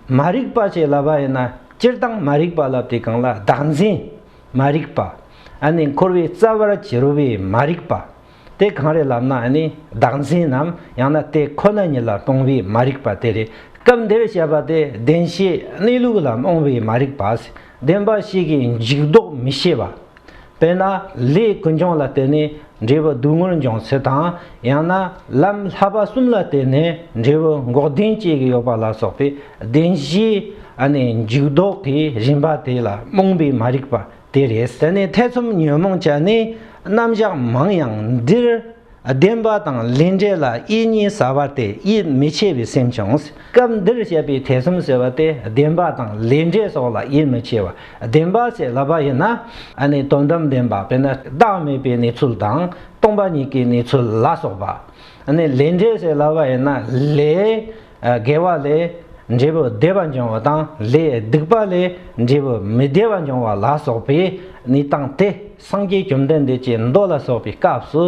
མ་རིག་པ་ཞེས་ལབ་པ་ཡིན་ན་སྤྱིར་བཏང་མ་རིག་པ་ལབ་དེ་གང་ལ་བདག་འཛིན་མ་རིག་པ། ནི་འཁོར་བའི་རྩ་བར་གྱུར་པའི་མ་རིག་པ། དེ་གང་རེད་ལབ་ན་ནི་བདག་འཛིན་ནམ་ཡང་ན་དེ་ཁོ་ན་ཉིད་ལ་སྤོང་བའི་མ་རིག་པ་དེ་རེད་སྐབས་འདིར་བཤད་པ་དེ་བདེན་བྱའི་གནས་ལུགས་ལ་རྨོངས་པའི་མ་རིག་པ། བདེན་པ་ཞིག་གི་འཇུག་ལྡོག་མི་ཤེས་པ། དཔེར་ན་ལྷའི་ཀུན་སྦྱོང་ལ་བརྟེན་ནས་འབྲས་བུ་སྡུག་བསྔལ་འབྱུང་ཚུལ་དང་ཡང་ན་ལམ་ལྷ་པ་གསུམ་ལ་བརྟེན་ནས་འབྲས་བུ་འགོག་བདེན་སྐྱེ་གི་ཡོད་པ་ལ་སོགས་པའི་བདེན་བཞིའི་འཇུག་ལྡོག་གི་རིམ་པ་དེ་ལ་རྨོངས་པའི་མ་རིག་པ་དེ་རེད། དེ་ནས་ཐེ་ཚོམ་ཉོན་མོངས་ཅན་ནི་རྣམ་གཞག་མང་ཡང་འདིར་བདེན་པ་དང་ལས་འབྲས་ལ་དབྱེ་གཉིས་ཟ་བ་སྟེ་དབྱེ་མི་ཕྱེད་པའི་སེམས་བྱུང། སྐབས་འདིར་བཤད་པའི་ཐེ་ཚོམ་ཟེར་བ་སྟེ་བདེན་པ་དང་ལས་འབྲས་སོགས་ལ་དབྱེ་མི་ཕྱེད་པ་བདེན་པ་ཞེས་ལབ་པ་ཡིན་ན། ནི་དོན་དམ་བདེན་པ་དཔེར་ན་བདག་མེད་པའི་གནས་ཚུལ་དང་སྟོང་པ་ཉིད་ཀྱི་གནས་ཚུལ་ལ་སོགས་པ། ནི་ལས་འབྲས་ཞེས་ལབ་པ་ཡིན་ན་ལས། དགེ་བ་ལས་འབྲས་བུ་བདེ་བ་འབྱུང་བ་དང་ལས་སྡིག་པ་ལས་འབྲས་བུ་མི་བདེ་བ་འབྱུང་བ་ལ་སོགས་པས་ནི་བཏང་སྟེ་སངས་རྒྱས་བཅོམ་ལྡན་འདས་ཀྱི་མདོ་ལ་སོགས་པའི་སྐབས་སུ།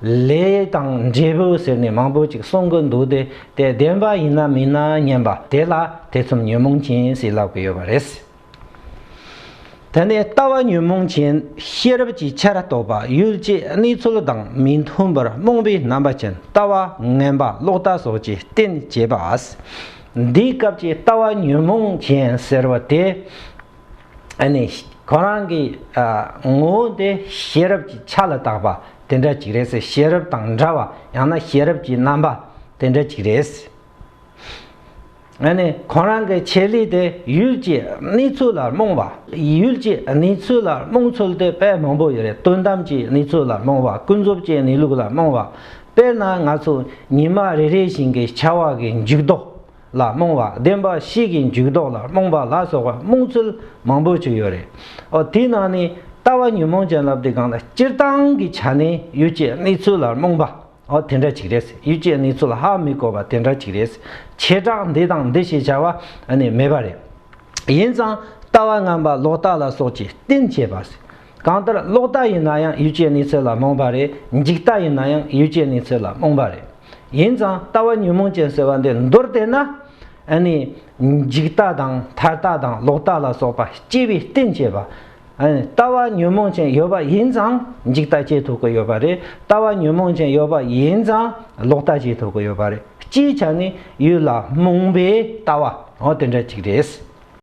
ལས་དང་འབྲས་བུ་ཟེར་ནས་མང་པོ་ཅིག་གསུང་གི་འདུག་སྟེ་དེ་བདེན་པ་ཡིན་ན་མིན་ན་མཉན་པ་དེ་ལ་ཐེ་ཚོམ་ཉོན་མོངས་ཅན་ཞེས་ལབ་ཀྱི་ཡོད་པ་རེད། དེ་ནས་ལྟ་བ་ཉོན་མོངས་ཅན་ཤེས་རབ་ཀྱི་ཆར་གཏོགས་པ་ཡུལ་སྐྱེས་གནས་ཚུལ་དང་མི་མཐུན་པར་རྨོངས་པའི་རྣམ་པ་ཅན་ལྟ་བ་ངན་པ་ལོག་ལྟ་སོགས་ཀྱི་རྟེན་བྱེད་པ། འདིའི་སྐབས་ཀྱི་ལྟ་བ་ཉོན་མོངས་ཅན་ཟེར་བ་དེ་ནི་གང་རང་གི་ངོ་བོ་དེ་ཤེས་རབ་ཀྱི་ཆ་ལ་བཏགས་པ་དེ་འདྲ་ཅིག་རེད། ཤེས་རབ་དང་འདྲ་བ་ཡང་ན་ཤེས་རབ་ཀྱི་རྣམ་པ་དེ་འདྲ་ཅིག་རེད། ཡང་ན་ཁོང་རང་གི་ཆེད་ལས་དེ་ཡུལ་གྱི་གནས་ཚུལ་ལ་རྨོངས་པ། ཡུལ་གྱི་གནས་ཚུལ་ལ་རྨོངས་ཚུལ་དེ་དཔེ་མང་པོ་ཡོད་རེད་དོན་དམ་གྱི་གནས་ཚུལ་ལ་རྨོངས་པ་ཀུན་རྫོབ་ཀྱི་གནས་ལུགས་ལ་རྨོངས་པ། དཔེར་ན་ང་ཚོ་ཉི་མ་རེ་རེ་བཞིན་གྱི་ཆར་བ་གི་འཇུག་ལྡོག་ལ་རྨོངས་པ་བདེན་པ་གཤིས་ཀྱི་འཇུག་ལྡོག་ལ་རྨོངས་པ་ལ་སོགས་པ་རྨོངས་ཚུལ་མང་པོ་ཅིག་ཡོད་རེད། འོ་དེའི་ནང་ནས་ལྟ་བ་ཉོན་མོངས་ཅན་ལབ་དེ་གང་ལ་སྤྱིར་བཏང་གི་ཆ་ནས་ཡུལ་གྱི་གནས་ཚུལ་ལ་རྨོངས་པ། འོ་དེ་འདྲ་ཅིག་རེད། ཡུལ་སྐྱེས་ནི་ཚུལ་ཧ་མི་གོ་བ་དེ་འདྲ་ཅིག་རེད། བྱེ་བྲག་འདི་དང་འདི་ཞེས་བྱ་བ་ནི་མེད་པ་རེད། ཡིན་ཙང་ལྟ་བ་རྔམ་པ་ལོག་ལྟ་ལ་སོགས་ཀྱིས་རྟེན་བྱས་པ། གང་ལྟར་ལོག་ལྟ་ཡིན་ན་ཡང་ཡུལ་སྐྱེས་ནི་ཚུལ་ལ་རྨོངས་པ་རེད་འཇིག་ལྟ་ཡིན་ན་ཡང་ཡུལ་སྐྱེས་ནི་ཚུལ་ལ་རྨོངས་པ་རེད། ཡིན་ཙང་ལྟ་བ་ཉོན་མོངས་ཅན་ཟེར་བ་འདི་མདོར་བལྟས་ན། འཇིག་ལྟ་དང་མཐར་ལྟ་དང་ལོག་ལྟ་ལ་སོགས་པ་སྐྱེ་བའི་རྟེན་བྱས་པ། ལྟ་བ་ཉོན་མོངས་ཅན་ཡོད་པ་ཡིན་ཙང་འཇིག་ལྟ་སྐྱེས་ཐུབ་ཀྱི་ཡོད་པ་རེད་ལྟ་བ་ཉོན་མོངས་ཅན་ཡོད་པ་ཡིན་ཙང་ལོག་ལྟ་སྐྱེས་ཐུབ་ཀྱི་ཡོད་པ་རེད་སྤྱིའི་ཆ་ནི་ཡུལ་ལ་རྨོངས་པའི་ལྟ་བ་འོ་དེ་འདྲ་ཅིག་རེད།